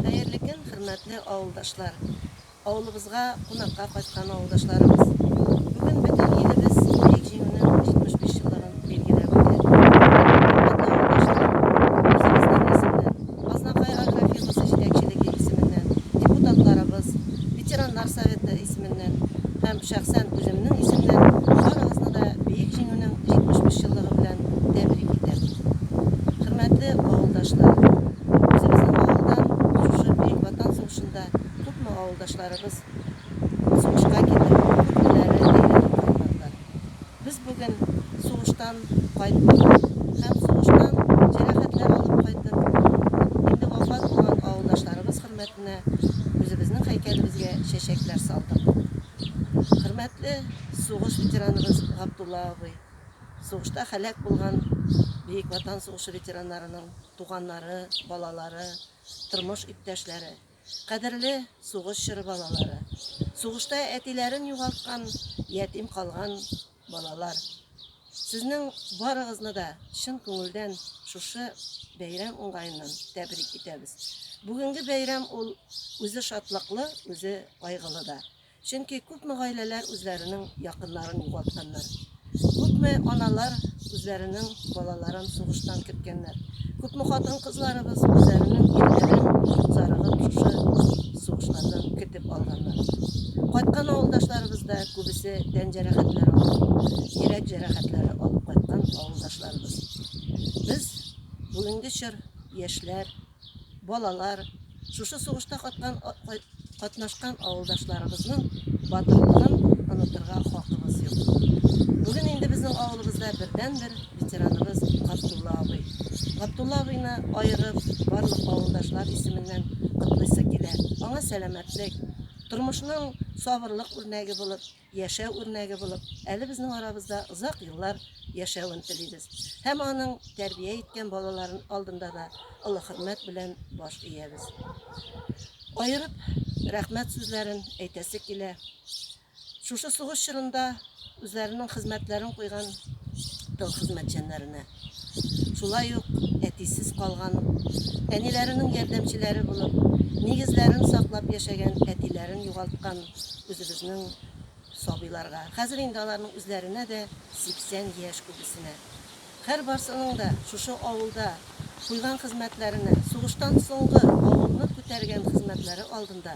Хәерле көн, хөрмәтле авылдашлар! Авылыбызга кунакка кайткан авылдашларыбыз бүген бөтен илебез Бөек Җиңүнең 75 еллыгын билгеләп үтә. Хөрмәтле авылдашлар, үзебезнең исемнән, Азнакай агрофирмасы җитәкчелеге исеменнән, депутатларыбыз, ветераннар советы исеменнән һәм шәхсән үземнең исемнән барыгызны да Бөек Җиңүнең 75 еллыгы белән тәбрик итәм. Хөрмәтле авылдашлар, үзебезнең авылдан шушы Бөек Ватан сугышында Күпме авылдашларыбыз сугышка китеп, күрмәләрен әйләнеп кайтмадылар. Без бүген сугыштан кайттык һәм сугыштан җәрәхәтләр алып кайтып, инде вафат булган авылдашларыбыз хөрмәтенә үзебезнең һәйкәлебезгә чәчәкләр салдык. Хөрмәтле сугыш ветераныбыз Габдулла абый, сугышта һәлак булган Бөек Ватан сугышы ветераннарының туганнары, балалары, тормыш иптәшләре! Кадерле сугыш чоры балалары! Сугышта әтиләрен югалткан, ятим калган балалар! Сезнең барыгызны да чын күңелдән шушы бәйрәм уңаеннан тәбрик итәбез. Бүгенге бәйрәм ул үзе шатлыклы, үзе кайгылы да. Чөнки күпме гаиләләр үзләренең якыннарын югалтканнар. Күпме аналар үзләренең балаларын сугыштан керткәннәр. Күпме хатын-кызларыбыз үзләренең ирләрен зарыгып шушы сугышлардан кертеп алганнар. Кайткан авылдашларыбыз да күбесе тән җәрәхәтләре алып, йөрәк җәрәхәтләре алып кайткан авылдашларыбыз. Без бүгенге чор яшьләр балалар, шушы сугышта каткан, катнашкан авылдашларыбызның батырлыгын онытырга хакыбыз юк. Бүген инде безнең авылыбызда бердән-бер ветераныбыз Габдулла абый. Габдулла абыйны аерып, барлык авылдашлар исеменнән котлыйсы килә. Аңа сәламәтлек, тормышның сабырлык үрнәге булып, яшәү үрнәге булып, әле безнең арабызда озак еллар яшәвен телибез һәм аның тәрбия иткән балаларын алдында да олы хөрмәт белән баш иябез. Аерып рәхмәт сүзләрен әйтәсе килә. Шушы сугыш чорында үзләренең хезмәтләрен куйган тыл хезмәтчәннәренә. шулай ук әтисез калган, әниләренең ярдәмчеләре булып, нигезләрен саклап яшәгән әтиләрен югалткан үзебезнең сабыйларга, хәзер инде аларның үзләренә дә 80 яшь күбесенә. Һәрбарсының да шушы авылда куйган хезмәтләренә, сугыштан соңгы авылны күтәргән хезмәтләре алдында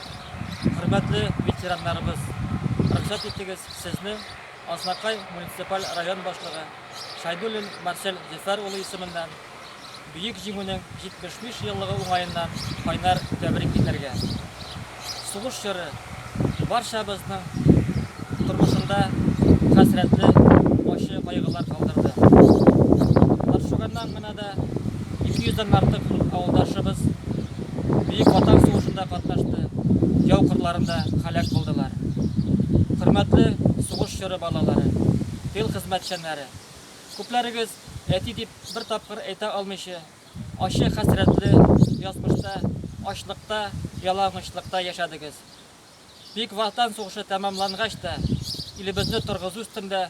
Хөрмәтле ветераннарыбыз, рөхсәт итегез сезне Азнакай муниципаль район башлыгы Шайдуллин Марсель Зөфәр улы исеменнән Бөек Җиңүнең 75 еллыгы уңаеннан кайнар тәбрик итәргә. Сугыш чоры барчабызның тормышында хәсрәтле, ачы кайгылар калдырды. Борчуганнан гына Анда 200 дән артык авылдашыбыз Бөек Ватан сугышында катнашты, яу кырларында халәк булдылар. Хөрмәтле сугыш чоры балалары, тыл хезмәтчәннәре! Күпләрегез әти дип бер тапкыр әйтә алмыйча, ачы хәсрәтле язмышта, ачлыкта, ялангачлыкта яшәдегез. Бөек Ватан сугышы тәмамлангач та, илебезне торгызу өстендә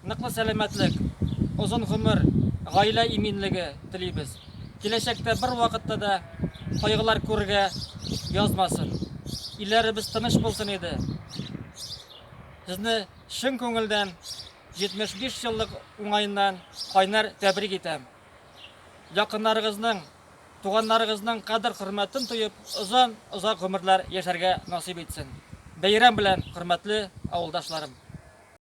Ныклы сәламәтлек, озын гомер, гаилә иминлеге телибез. Киләчәктә бервакытта да кайгылар күрергә язмасын. Илләребез тыныч булсын иде. Сезне чын күңелдән 75 еллык уңаеннан кайнар тәбрик итәм. Якыннарыгызның, туганнарыгызның кадер-хөрмәтен тоеп, озан-озак гомерләр яшәргә насыйп итсен. Бәйрәм белән, хөрмәтле авылдашларым!